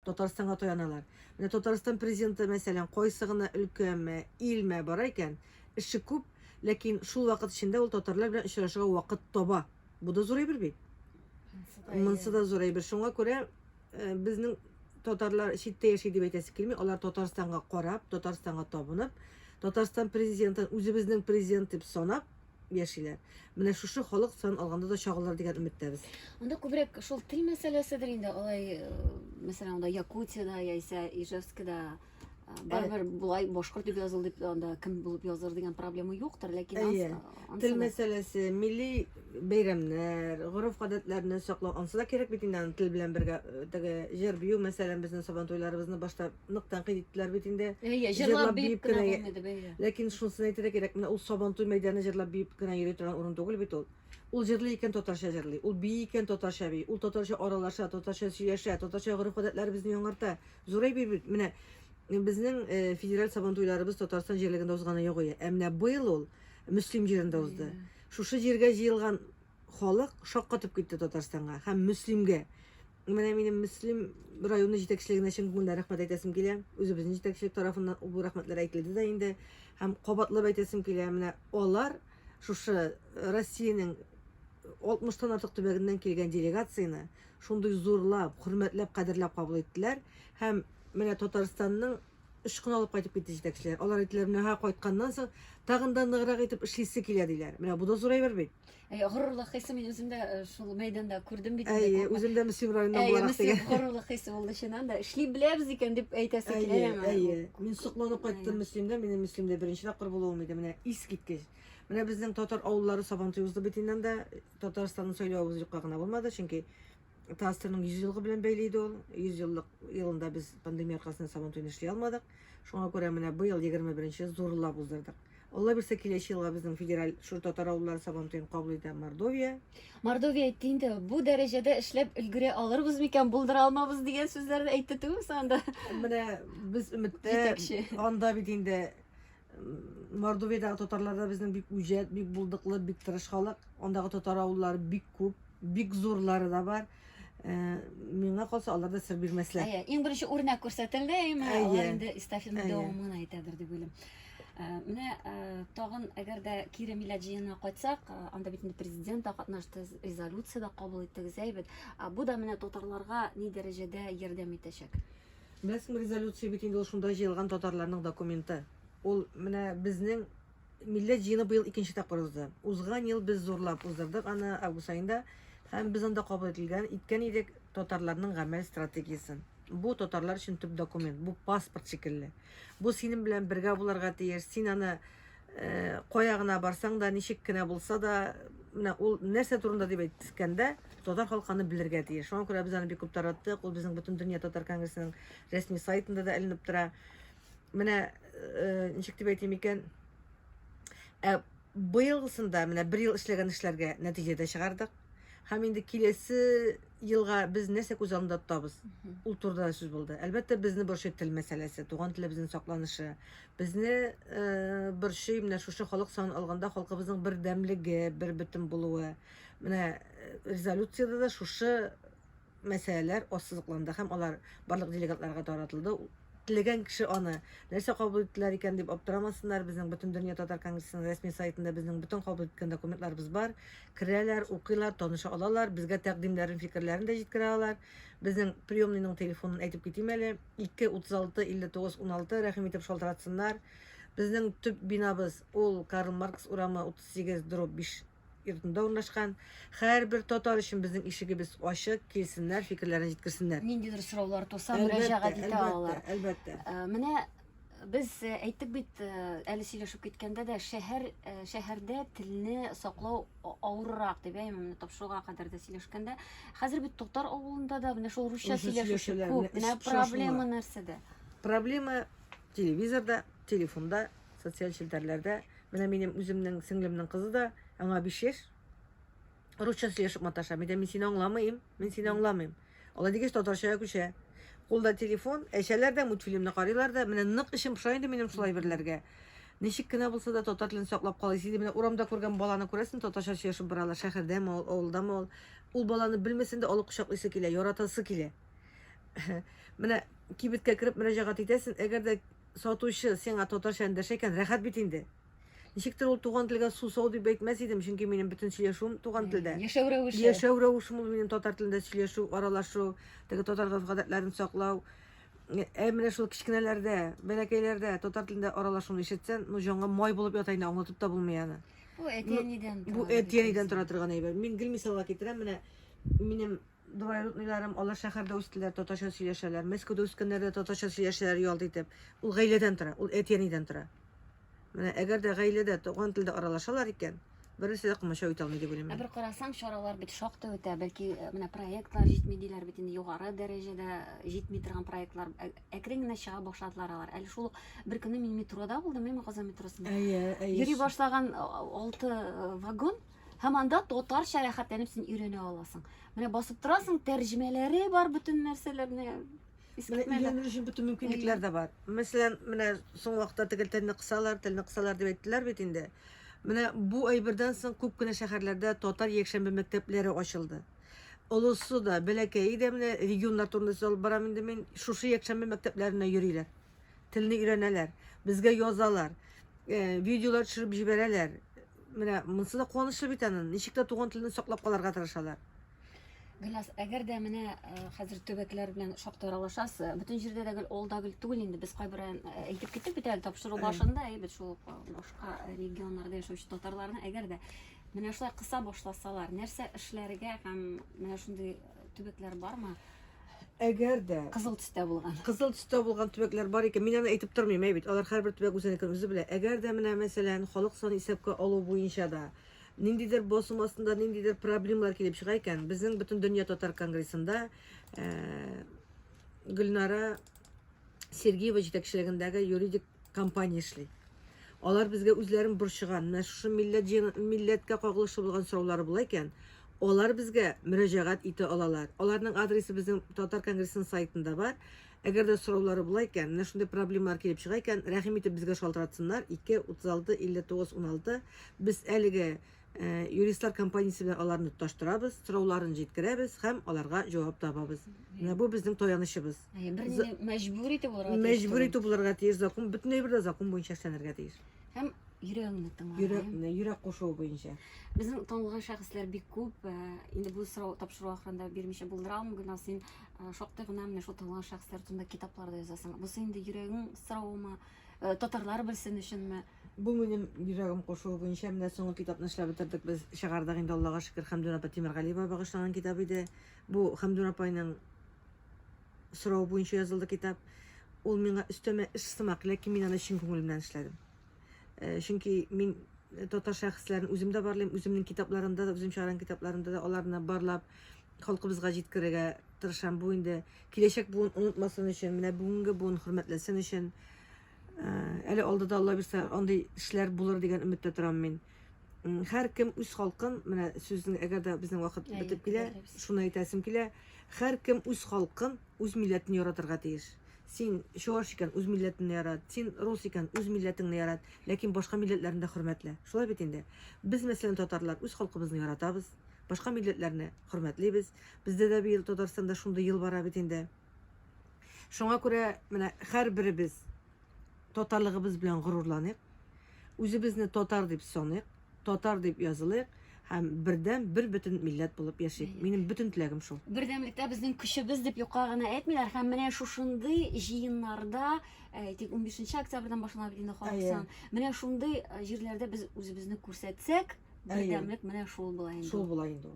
Татарстанга таяналар. Менә Татарстан президенты, мәсәлән, кайсы гына өлкәме, илме бара икән, эше күп, ләкин шул вакыт эчендә ул татарлар белән очрашырга вакыт таба. Бу да зур әйбер бит. Монсы да зур әйбер. Шуңа күрә э, безнең татарлар читтә яши дип әйтәсе килми, алар Татарстанга карап, Татарстанга табынып, Татарстан президентын үзебезнең президент дип санап, яшиләр. Менә шушы халык сан алганда да чагылыр дигән өметтәбез. Анда күбрәк шул тел мәсьәләседер инде, алай, э, мәсәлән, анда Якутиядә яисә Ижевскида э, барыбер болай башкорт дип языл дип анда кем булып языр дигән проблема юктыр, ләкин анс- Әйе. ансы Тел да- мәсьәләсе, милли бәйрәмнәр, гореф-гадәтләрне саклау, ансы да кирәк бит инде аны тел белән бергә э, теге җыр-бию мәсәлән, безнең сабантуйларыбызны башта нык тәнкыйть иттеләр бит инде. Әйе, җырлап биеп кенә булмый дип, әйе. Ләкин шунысын әйтергә кирәк, менә ул Сабантуй мәйданы җырлап биеп кенә йөри торган урын түгел бит ул. Ул җырлый икән, татарча җырлый. Ул бии икән, татарча бии. Ул татарча аралаша, татарча сөйләшә, татарча гореф-гадәтләребезне яңарта. Зур әйбер бит. Менә безнең э, федераль Сабантуйларыбыз Татарстан җирлегендә узганы юк иде. Ә менә быел ул Мөслим җирендә узды. Шушы җиргә җыелган халык шаккатып китте Татарстанга һәм Мөслимгә. Менә минем Мөслим районы җитәкчелегенә чын күңелдән рәхмәт әйтәсем килә. Үзебезнең җитәкчелек тарафыннан бу рәхмәтләр әйтелде дә инде һәм кабатлап әйтәсем килә. Менә алар шушы Россиянең 60-тан артык төбәгеннән килгән делегацияне шундый зурлап, хөрмәтләп, кадерләп кабул иттеләр һәм менә Татарстанның очкын алып кайтып китте җитәкчеләр. Алар әйттеләр, менә һә кайтканнан соң тагын да ныграк итеп эшлисе килә диләр. Менә бу да зур әйбер бит. Әй, горурлык хисе мин үзем дә э, шул мәйданда күрдем бит. инде Әйе, күпме. үзем дә Мөслим районыннан Әйе, буларак Мөслим дигән. горурлык хисе булды чыннан да. Эшли беләбез икән дип әйтәсе килә Әйе, яңа. әйе. Мин сокланып Әйе. кайттым Мөслимдә. Минем Мөслимдә беренче тапкыр булуым иде. Менә искиткеч. Менә безнең татар авыллары Сабантуй узды бит инде анда. Татарстанның сайлавы юкка гына булмады, чөнки Театрның 100 елгы белән бәйле иде ул. 100 еллык елында без пандемия аркасында сабан туен эшли алмадык. Шуңа күрә менә быел 21-нче зурлап уздырдык. Алла бирсә киләчәк елга безнең федераль шур татар авыллары сабан туен кабул итә Мордовия. Мордовия әйтте инде, бу дәрәҗәдә эшләп өлгерә алырбыз микән, булдыра алмабыз дигән сүзләрне әйтте түгелме соң анда? Менә без өметтә. Җитәкче. Анда бит инде Мордовиядәге татарлар да безнең бик үҗәт, бик булдыклы, бик тырыш халык. Андагы татар авыллары бик күп, бик зурлары да бар. Э, Миңа калса, алар да сер бирмәсләр. Әйе, иң беренче үрнәк күрсәтелде, әйеме? Әйе. Алар инде эстафетаны Әйе. дәвамын гына әйтәдер дип уйлыйм. Ә, Менә ә, тагын, әгәр дә кире милләт җыенына кайтсак, ә, анда бит инде президент та катнашты, резолюция дә кабул иттегез, әйбәт. Ә Бу да менә татарларга ни дәрәҗәдә ярдәм итәчәк? Мәсм резолюция бит инде ул шунда җыелган татарларның документы. Ул менә безнең милләт җыены быел икенче тапкыр узды. Узган ел без зурлап уздырдык аны август аенда һәм без анда кабул ителгән иткән идек татарларның гамәл стратегиясен. Бу татарлар өчен төп документ, бу паспорт шикелле. Бу синең белән бергә булырга тиеш. Син аны Э, кая гына барсаң да, ничек кенә булса да, менә ул нәрсә турында дип әйткәндә, татар халкы аны белергә тиеш. Шуңа күрә без аны бик күп тараттык. Ул безнең бөтен дөнья татар конгрессының рәсми сайтында да эленеп тора. Менә э, ничек дип әйтим икән? Ә быелгысында менә бер ел эшләгән эшләргә нәтиҗә дә чыгардык. Һәм инде киләсе елга без нәрсә күз алдында тотабыз? Ул турыда сүз булды. Әлбәттә, безне борчый тел мәсьәләсе, туган телебезнең сакланышы, Безне борчый менә шушы халык санын алганда халкыбызның бердәмлеге, бербөтен булуы. Менә резолюциядә дә шушы мәсьәләләр ассызыкланды һәм алар барлык делегатларга таратылды. Теләгән кеше аны нәрсә кабул иттеләр икән дип аптырамасыннар. Безнең бөтен дөнья татар конгрессының рәсми сайтында безнең бөтен кабул иткән документларыбыз бар. Керәләр, укыйлар, таныша алалар, безгә тәкъдимнәрен, фикерләрен дә җиткерә алар. Безнең приемныйның телефонын әйтеп китим әле. 2, 36, 59, 16, рәхим итеп шалтыратсыннар. Безнең төп бинабыз ул Карл Маркс урамы 38 дробь 5 йортында урнашкан. Һәрбер татар өчен безнең ишегебез ачык, килсеннәр, фикерләрен җиткерсеннәр. Ниндидер сораулар туса, мөрәҗәгать итә алалар. Әлбәттә, әлбәттә. Э, менә без э, әйттек бит, э, әле сөйләшеп киткәндә дә, шәһәр, шәһәрдә телне саклау авыррак дип, әй, менә тапшыруга кадәр дә сөйләшкәндә. Хәзер бит Токтар авылында да менә шул русча сөйләшүче күп. Менә проблема нәрсәдә? Проблема телевизорда, телефонда, социаль челтәрләрдә. Менә минем үземнең сеңлемнең кызы да, аңа 5 яшь. Русча сөйләшеп маташа. Мин дә мин сине аңламыйм, мин сине аңламыйм. Алай дигәч, татарчага күчә. Кулда телефон, әчәләр дә, мультфильмны карыйлар да, менә нык эчем поша инде минем шулай берләргә. Ничек кенә булса да татар телен саклап калыйс иде. Менә урамда күргән баланы күрәсен, татарча сөйләшеп баралар. Шәһәрдәме ул, авылдамы ул. Ул баланы белмәсен дә, алып кочаклыйсы килә, яратасы килә. Менә кибеткә кереп мөрәҗәгать итәсен, әгәр дә сатучы сиңа татарча эндәшә икән, рәхәт бит инде. Ничек тә ул туган телгә сусау дип әйтмәс идем, чөнки минем бөтен сөйләшүем туган телдә. Яшәү рәвеше. Яшәү рәвешем ул минем татар телендә сөйләшү, аралашу, теге татар гадәтләрен саклау. Ә менә шул кечкенәләрдә, бәләкәйләрдә татар телендә аралашуны ишетсән, ну җанга май булып ята инде, аңлатып та булмый аны. Бу әти-әнидән тора. Бу әти-әнидән тора торган әйбер. Мин гел мисалга китерәм, менә минем Двоюродныйларым, алар шәһәрдә үстеләр, татарча сөйләшәләр. Мәскәүдә үскәннәр дә татарча сөйләшәләр ялт итеп. Ул гаиләдән тора, ул әти-әнидән тора. Менә әгәр дә гаиләдә туган телдә аралашалар икән, беренче дә комачау итә алмый дип уйлыйм. Ә бер карасаң, чаралар бит шактый үтә. Бәлки, э, менә проектлар җитми диләр бит инде, югары дәрәҗәдә э, җитми торган проектлар. Ә- Әкрен генә чыга башладылар алар. Әле шул ук бер көнне мин метрода булдым, әйме Казан метросында. Әйе, әйе. Йөри башлаган э, алты э, вагон Һәм анда татарча рәхәтләнеп син өйрәнә аласың. Менә басып торасың, тәрҗемәләре бар бөтен нәрсәләрне. Менә өйрәнү өчен бөтен мөмкинлекләр дә бар. Мәсәлән, менә соң вакытта тегел телне кысалар, телне кысалар дип әйттеләр бит инде. Менә бу әйбердән соң күп кенә шәһәрләрдә татар якшәмбе мәктәпләре ачылды. Олысы да, бәләкәе дә менә регионнар турында сүз алып барам инде мин. Шушы якшәмбе мәктәпләренә йөриләр. Телне өйрәнәләр, безгә язалар, э, видеолар төшереп җибәрәләр. Менә монысы да куанычлы бит аны. Ничек тә туган телне саклап калырга тырышалар. Гөлназ, әгәр дә менә э, хәзер төбәкләр белән шактый аралашасыз, э, бөтен җирдә дә гел ул да гел түгел инде, без кайбер э, әйтеп киттек бит әле тапшыру башында, әйбәт шул башка регионнарда яшәүче татарларны, әгәр дә менә шулай кыса башласалар, нәрсә эшләргә һәм менә шундый төбәкләр бармы? Әгәр дә кызыл төстә булган. Кызыл төстә булган төбәкләр бар икән, мин аны әйтеп тормыйм, әй бит. Алар һәрбер төбәк үзенекен үзе белә. Әгәр дә менә, мәсәлән, халык саны исәпкә алу буенча да ниндидер басым астында ниндидер проблемалар килеп чыга икән, безнең бөтен дөнья татар конгрессында э, Гөлнара Сергеева җитәкчелегендәге юридик компания эшли. Алар безгә үзләрен борчыган, менә шушы милләт җыен- милләткә кагылышлы булган сораулары була икән, алар безгә мөрәҗәгать итә алалар. Аларның адресы безнең Татар конгрессының сайтында бар. Әгәр дә сораулары була икән, менә шундый проблемалар килеп чыга икән, рәхим итеп безгә шалтыратсыннар, 2 36 59 16. Без әлеге Э, юристлар компаниясе белән аларны тоташтырабыз, сорауларын җиткерәбез һәм аларга җавап табабыз. Менә бу безнең таянычыбыз. Берне мәҗбүр итеп булырга тиеш. Мәҗбүр итеп булырга тиеш, закон бөтен әйбер дә закон буенча эшләнергә тиеш. Һәм йөрәгеңне тыңлау. Йөрәк, йөрәк кушуы буенча. Безнең танылган шәхесләр бик күп. Э, инде бу сорау тапшыру ахырында бирмичә булдыра алмыйм, гына син э, шактый гына менә шул танылган шәхесләр турында китапларда язасың. Бусы инде йөрәгең соравымы, татарлар белсен өченме? Бу минем йөрәгем кушуы буенча менә соңгы китапны эшләп бетердек без, чыгардык инде, Аллага шөкер, Хәмдүн апа Тимергалиевага багышланган китап иде. Бу Хәмдүн апайның соравы буенча язылды китап. Ул миңа өстәмә эш сымак, ләкин мин аны чын күңелемнән эшләдем. Э, чөнки мин татар шәхесләрен үзем дә барлыйм, үземнең китапларымда да, үзем чыгарган китапларымда да аларны барлап халкыбызга җиткерергә тырышам. Бу инде киләчәк буын онытмасын өчен, менә бүгенге буын хөрмәтләсен өчен. Ә, Әле алдыда, Алла бирсә, андый эшләр булыр дигән өметтә торам мин. М, Һәркем үз халкын, менә сүзнең, әгәр дә безнең вакыт Әйе, бетеп килә, дөрес. шуны әйтәсем килә. Һәркем үз халкын, үз милләтен яратырга тиеш. Син чуаш икән, үз милләтеңне ярат. Син рус икән, үз милләтеңне ярат. Ләкин башка милләтләрне дә хөрмәтлә. Шулай бит инде. Без, мәсәлән, татарлар үз халкыбызны яратабыз, башка милләтләрне хөрмәтлибез. Бездә дә быел Татарстанда шундый ел бара бит инде. Шуңа күрә менә һәрберебез татарлыгыбыз белән горурланыйк, үзебезне татар дип саныйк, татар дип язылыйк һәм бердәм, бер бөтен милләт булып яшик. Минем бөтен теләгем шул. Бердәмлектә безнең көчебез дип юкка гына әйтмиләр һәм менә шушындый җыеннарда, э, әйтик, 15 октябрьдән башланып инде халык Әйе. сан. Менә шундый э, җирләрдә без үзебезне күрсәтсәк, Бердәмлек менә шул була инде. Шул була инде.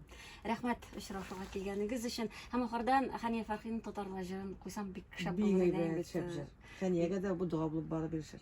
Рәхмәт очрашуга килгәнегез өчен. Һәм ахырдан Хания Фәрхинең татарлар җырын куйсам бик шәп булыр иде. Бик шәп җыр. Хәниягә дә бу дога булып барып ирешер.